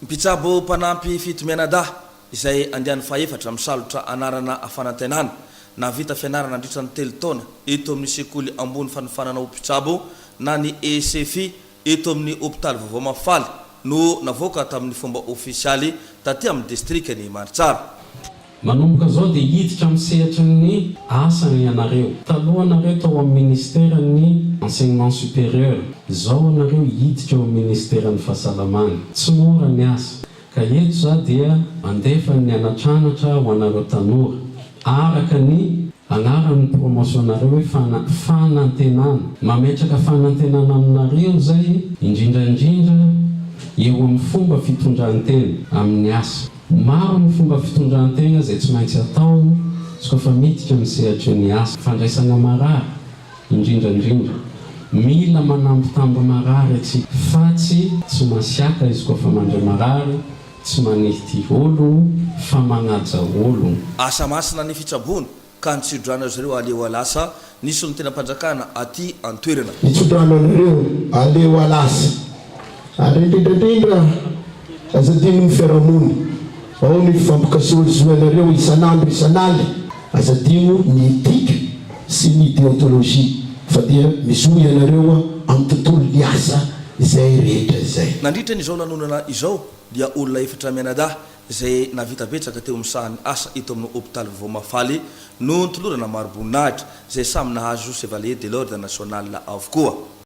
Mpitsabo mpanampy fito mianadahy izay andiany fahefatra misalotra anarana fanantenana. Nahavita fianarana nandritra ny telo taona eto amin'ny sekoly ambony fanofanana ho mpitsabo na ny ESEFI eto amin'ny hopitaly vaovao Mahafaly no navoaka tamin'ny fomba ofisialy taty amin'ny distrikan'i Maritsara. Manomboka izao dia hiditra amin'ny sehatry ny asany ianareo. Taloha nareo tao amin'ny Ministeran'ny Enseignement Supérieur, izao ianareo hiditra eo amin'ny Ministeran'ny Fahasalamana. Tsy mora ny asa, ka eto izaho dia mandefa ny anatranatra ho anareo tanora, araka ny anaran'ny promotion-nareo hoe fana, fanantenana. Mametraka fanantenana aminareo izay, indrindra indrindra eo amin'ny fomba fitondran-tena amin'ny asa. Maro ny fomba fitondran-tena izay tsy maintsy atao izy koa fa miditra amin'ny sehatry ny asa. Fandraisana marary, indrindra indrindra. Mila manambitamby marary isika, fa tsy tsy masiaka izy koa fa mandre marary, tsy manilty ologno, fa manaja ologno. Asa masina ny fitsaboana, ka ny tsiodrano azy ireo aleoalasa ny solontenam-panjakana aty an-toerana. Ny tsiodrano azy ireo aleoalasa ary indrindraindrindra aza adinon'ny fiarahamonina, ao ny fifampikasohazoanareo isan'andro isan'alina, aza adino ny etika sy ny deontologie fa dia mizoha ianareo amin'ny tontolon'ny asa izay rehetra izay. Nandritra ny izao lanonana izao dia olona efatra mianadahy izay nahavita betsaka teo amin'ny sahan'ny asa eto amin'ny hopitaly vaovao Mahafaly no nitolorana maro-boninahitra, izay samy nahazo Chevalier de l'Ordre National avokoa.